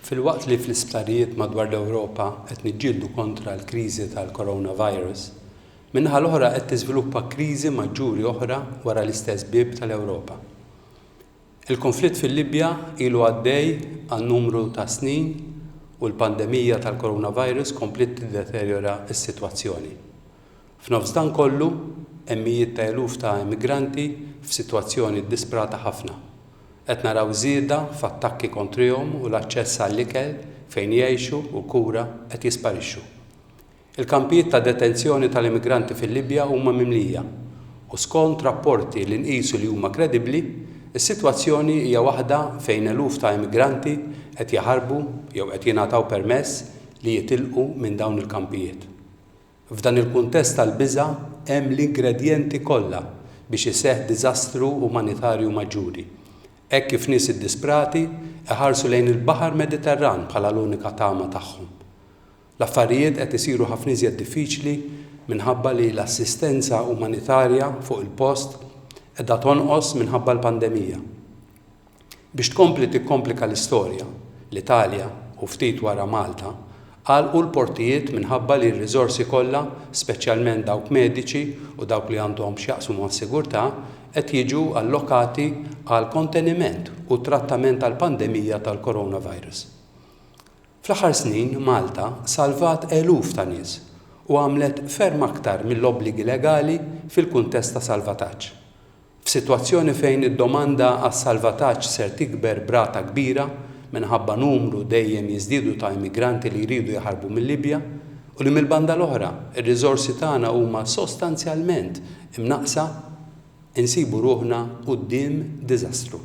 Filwaqt li fl-isptarijiet madwar l-Ewropa qed niġġieldu kontra l-kriżi tal-coronavirus, min-naħa l-oħra qed tiżviluppa kriżi maġġuri oħra wara l-istess bieb tal-Ewropa. Il-kunflitt fil-Libja ilu għaddej għal numru ta' snin u l-pandemija tal-coronavirus kompliet tiddeterjora s-sitwazzjoni. F'nofs dan kollu, hemm mijiet ta' eluf ta' immigranti f'sitwazzjoni ddisprata ħafna. Qed naraw żieda f'attakki kontrihom u l-aċċess għall-ikel, fejn jgħixu u kura qed jisparixxu. Il-kampijiet ta' detenzjoni tal-immigranti fil-Libja huma mimlija u skont rapporti li nqisu li huma kredibbli, is-sitwazzjoni hija waħda fejn eluf ta' immigranti qed jaħarbu jew qed jingħataw permess li jitilqu minn dawn il-kampijiet. F'dan il-kuntest tal-biża' hemm l-ingredjenti kollha biex iseħħ diżastru umanitarju maġġuri, hekk kif nies iddisprati iħarsu lejn il-Baħar Mediterran bħala l-unika tama tagħhom. L-affarijiet qed isiru ħafna iżjed diffiċli minħabba li l-assistenza umanitarja fuq il-post qiegħda tonqos minħabba l-pandemija. Biex tkompli tikkomplika l-istorja, l-Italja, u ftit wara Malta, għalqu l-portijiet minħabba li r-riżorsi kollha, speċjalment dawk mediċi u dawk li għandhom x'jaqsmu mas-sigurtà, qed jiġu allokati għall-konteniment u t-trattament tal-pandemija tal-coronavirus. Fl-aħħar snin Malta salvat eluf ta' nies u għamlet ferm aktar mill-obbligi legali fil-kuntest ta' salvataġġ. F'sitwazzjoni fejn id-domanda għas-salvataġġ ser tikber b'rata kbira minħabba numru dejjem jiżdiedu ta' immigranti li jridu jaħarbu mil-Libja u li mill-banda l-oħra r-riżorsi tagħna huma sostanzjalment imnaqqsa, insibu ruħna quddiem diżastru.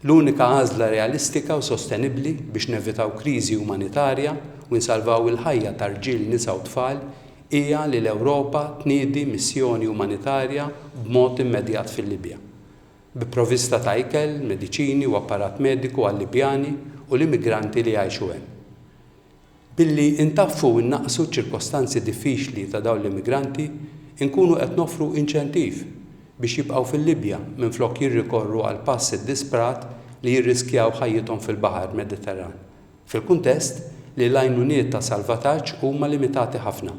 L-unika għażla realistika u sostenibbli biex nevitaw kriżi umanitarja u nsalvaw il-ħajja ta' rġiel, nisa u tfal hija li l-Ewropa tniedi missjoni umanitarja b'mod immedjat fil-Libja, bi provista ta' ikel, mediċini u apparat mediku għal-Libjani u l-immigranti li jgħixu hemm. Billi ntaffu u nnaqqsu ċ-ċirkostanzi diffiċli ta' dawn l-immigranti, inkunu qed noffru inċentiv biex jibqgħu fil-Libja minflok jirrikorru għal pass iddisprat li jirriskjaw ħajjithom fil-baħar Mediterran, fil-kuntest li l-għajnuniet ta' salvataġġ huma limitati ħafna.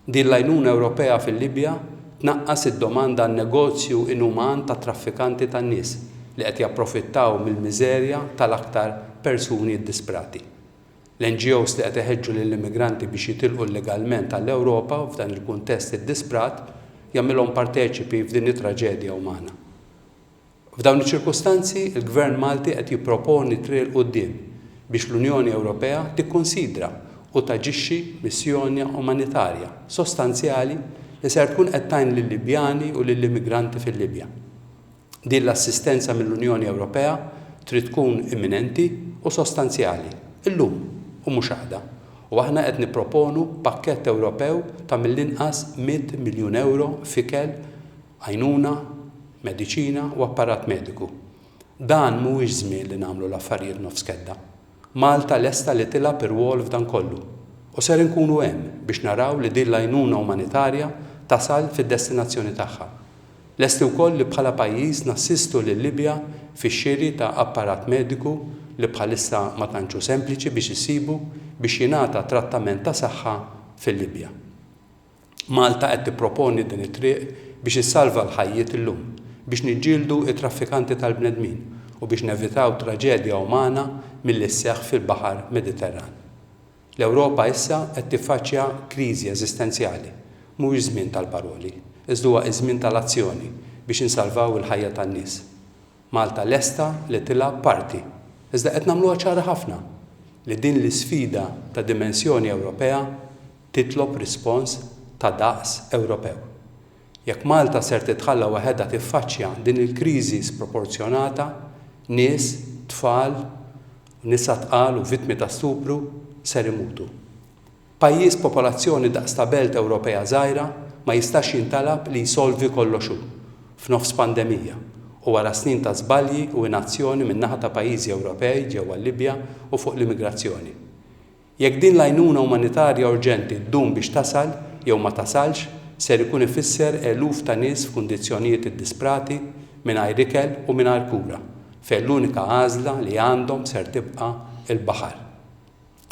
Din l-għajnuna Ewropea fil-Libja tnaqqas id-domanda għan-negozju inuman tat-traffikanti tan-nies li qed japprofittaw mill-miżerja tal-aktar persuni ddisprati. L-NGOs li qed iħeġġu lill-immigranti biex jitilqu llegalment għall-Ewropa u f'dan il-kuntest iddisprat jagħmilhom parteċipi f'din it-traġedja umana. F'dawn iċ-ċirkustanzi, il-Gvern Malti qed jipproponi triq 'il quddiem biex l-Unjoni Ewropea tikkunsidra u taġixxi missjonja umanitarja sostanzjali li ser tkun qed tgħin lil-Libjani u lill-immigranti fil-Libja. Din l-assistenza mill-Unjoni Ewropea trid tkun imminenti u sostanzjali, illum u mhux għada, u aħna qed nipproponu pakkett Ewropew ta' mill-inqas mitt miljun ewro f'ikel, għajnuna, mediċina u apparat mediku. Dan mhuwiex żmien li nagħmlu l-affarijiet nofs kedda. Malta lesta li tilgħab irwol f'dan kollu, u ser inkunu hemm biex naraw li din l-għajnuna umanitarja tasal fid-destinazzjoni tagħha. Lesti wkoll li bħala pajjiż nassistu lil-Libja fix-xiri ta' apparat mediku li bħalissa ma tantx hu sempliċi biex issibu biex jingħata trattament ta' saħħa fil-Libja. Malta qed tipproponi din it-triq biex issalva l-ħajjiet illum, biex niġġieldu t-traffikanti tal-bnedmin u biex nevitaw traġedja umana milli sseħħ fil-Baħar Mediterran. L-Ewropa issa qed tiffaċċja kriżi eżistenzjali. Mhuwiex żmien tal-paroli, iżda huwa ż-żmien tal-azzjoni biex insalvaw il-ħajja tan-nies. Malta lesta li tilgħab parti, iżda qed nagħmluha ċara ħafna li din l-isfida ta' dimensjoni Ewropea titlob rispons ta' daqs Ewropew. Jekk Malta ser titħalla waħedha tiffaċċja din il-kriżi sproporzjonata, nies, tfal, u nisa tqal u vittmi ta' stupru ser imutu. Pajjiż b'popolazzjoni daqs ta' belt Ewropea żgħira ma jistax jintalab li jsolvi kollox hu, f'nofs pandemija, u wara snin ta' żbalji u inazzjoni min-naħa ta' pajjiżi Ewropej ġewwa l-Libja u fuq l-immigrazzjoni. Jekk din l-għajnuna umanitarja urġenti ddum biex tasal jew ma tasalx, ser ikun ifisser eluf ta' nies f'kundizzjonijiet iddisprati, mingħajr ikel u mingħajr kura, fejn l-unika għażla li għandhom ser tibqa' l-baħar.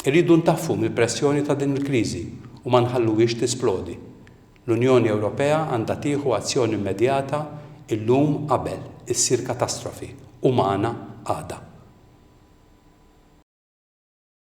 Irridu ntaffu mill-pressjoni ta' din il-kriżi u ma nħalluhiex tisplodi. L-Unjoni Ewropea għandha tieħu azzjoni immedjata illum qabel issir katastrofi umana għada.